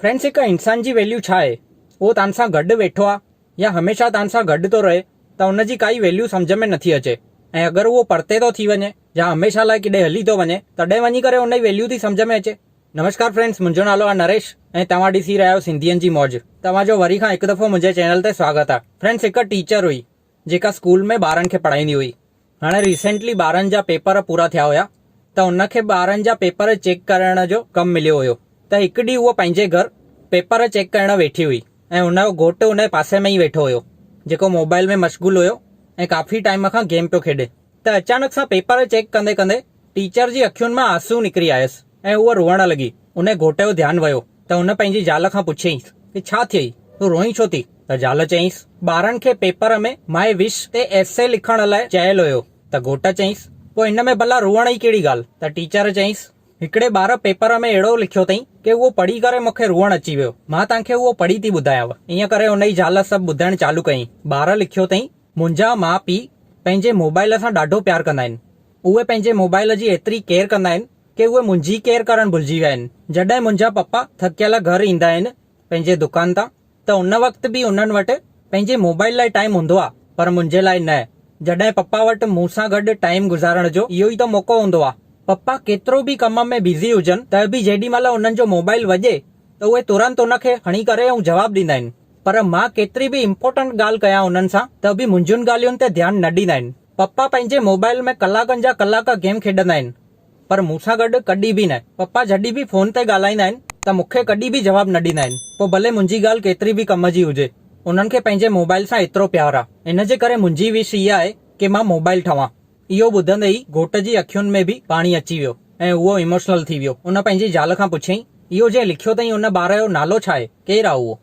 Friends هڪ انسان جي ويليو ڇا آهي اهو تان سان گڏ ويٺو آهي يا هميشه تان سان گڏ ٿو رهي ته ان جي ڪائي ويليو سمجهه ۾ نٿي اچي ۽ اگر اهو پرتي ٿو ٿي وڃي يا هميشه لاء ڪيڏي هلي ٿو وڃي تڏهن وڃي ڪري ان جي ويليو ٿي سمجهه ۾ اچي نمشڪار فرينڊس منهنجو نالو آهي نريش ۽ توهان ڏسي رهيا آهيو سنڌين جي موج توهان جو وري کان هڪ دفعو منهنجي چينل تي سواگت آهي فرينڊس هڪ ٽيچر هئي جيڪا اسڪول ۾ ٻارن کي پڙهائيندي هئي هاڻي ريسينٽلي ٻارن جا پيپر پورا ٿيا هيا ته ان کي ٻارن جا پيپر چيڪ ڪرڻ جو ڪم مليو هيو ته هڪ ڏينهن هوء پنهنجي گهر پيپر چيڪ ڪرڻ ويٺي هئي ۽ هن جو گهوٽ ان جي پاسي ۾ ئي ويٺو هيو جيڪو موبائل ۾ مشغول هيو ۽ ڪافي ٽائيم کان گيم پيو کيڏي ته اچانڪ سان پيپر چيڪ ڪندي ڪندي ٽيچر جي اکين مان آنسو نڪري آيس. ۽ هوء روئڻ لڳي. انهيء گهوٽ جو ڌيان ويو ته هن پنهنجي زال کان پڇيائينس ته ڇا ٿيئي؟ تون روئين ڇو ٿي؟ ته زال چيائينس، ٻارن کي پيپر ۾ ماء وش تي ايسي لکڻ لاء چيل هيو. ته گهوٽ چيائينس، پوء هن ۾ ڀلا روئڻ ئي ڪهڙي ڳالهه؟ ته ٽيچر چيائينس، هڪڙي ٻار پيپر ۾ اهڙو لکيو اٿئين ڪي اهو پڙهي ڪري مون کي روئڻ اچي ويو. مان توهان کي اهو پڙهي ٿي ٻڌايانء. ائين ڪري هن جي زال سڀ ٻڌائڻ چالو ڪيائين. ٻار لکيو اٿئين، منهنجا ماء پيء پنهنجي موبائيل سان ڏاڍو پيار ڪندا آهن. اهي پنهنجي موبائيل جي ايتري ڪيئر ڪندا آهن. ڪي اهي منهنجي ڪيئر ڪرڻ ڀلجي ويا آهن. جڏهن منهنجا پپا ٿڪيل گهر ايندا آهن پنهنجي دڪان تان ته ان وقت به انهن وٽ پنهنجي موبائل لاء ٽائيم هوندو آهي پر منهنجي لاء نه. جڏهن پپا وٽ مون سان گڏ ٽائيم گذارڻ جو اهو ئي ته موقعو هوندو آهي. پپا ڪيترو به ڪم ۾ بزي هجن ته به جيڏي مهل انهن جو موبائل وڄي ته اهي ترنت ان کي کڻي ڪري ۽ جواب ڏيندا آهن پر مان ڪيتري به امپورٽنٽ ڳالهه ڪيان انهن سان ته به منهنجين ڳالهين تي ڌيان نه ڏيندا آهن. پپا پنهنجي موبائيل ۾ ڪلاڪن جا ڪلاڪ گيم کيڏندا آهن پر مون سان گڏ ڪڏهن به نه. پپا جڏهن به فون تي ڳالهائيندا آهن ته مون کي ڪڏهن به جواب نه ڏيندا آهن پوء ڀلي منهنجي ڳالهه ڪيتري به ڪم جي هجي. انهن کي پنهنجي موبائيل سان ايترو پيار آ ان جي ڪري منهنجي وش اها آهي ڪي مان موبائيل ٺاهوان. اهو ٻڌندي ئي گهوٽ جي اکين ۾ به پاڻي اچي ويو ۽ اهو ايموشنل ٿي ويو. ان پنهنجي زال کان پڇيائين اهو جنهن لکيو اٿئي ان ٻار جو نالو ڇا آهي؟ ڪير آ اهو؟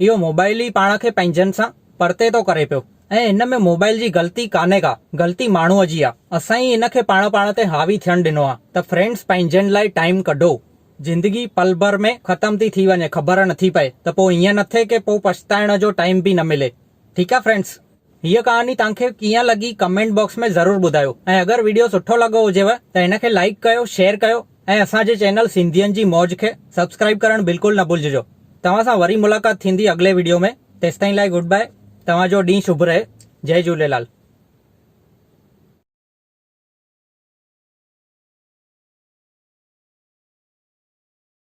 اهو موبائيل ئي پاڻ کي پنهنجن سان پرتي ٿو ڪري پيو ۽ هن ۾ موبائيل جي غلطي ڪانهي ڪا غلطي ماڻهوء جي آ اسان ئي ان کي پاڻ پاڻ تي حاوي ٿيڻ ڏنو آ ته فرينڊس پنهنجن لاء ٽائيم ڪڍو. زندگي پل ڀر ۾ ختم ٿي ٿي وڃي خبر نٿي پئي ته پوء ائين نه ٿئي ڪي پوء پڇتائڻ جو ٽائيم به نه ملي ٺيڪ آ فرينڊس. هيء ڪهاڻي توهان کي ڪيئن لڳي ڪمينٽ باڪس ۾ ضرور ٻڌايو ۽ اگر ويڊيو سٺو لڳو هجيو ته هن کي لائيڪ ڪيو شيئر ڪيو ۽ اسان جي چينل سنڌين جي موج کي سبسڪرائيب ڪرڻ بلڪل نه ڀلججو توهان سان وري ملاقات ٿيندي اڳلي ويڊيو ۾ تيستائين لاء گڊ باء توهان جو ڏينهن شڀ رهي جئي جهوليلال.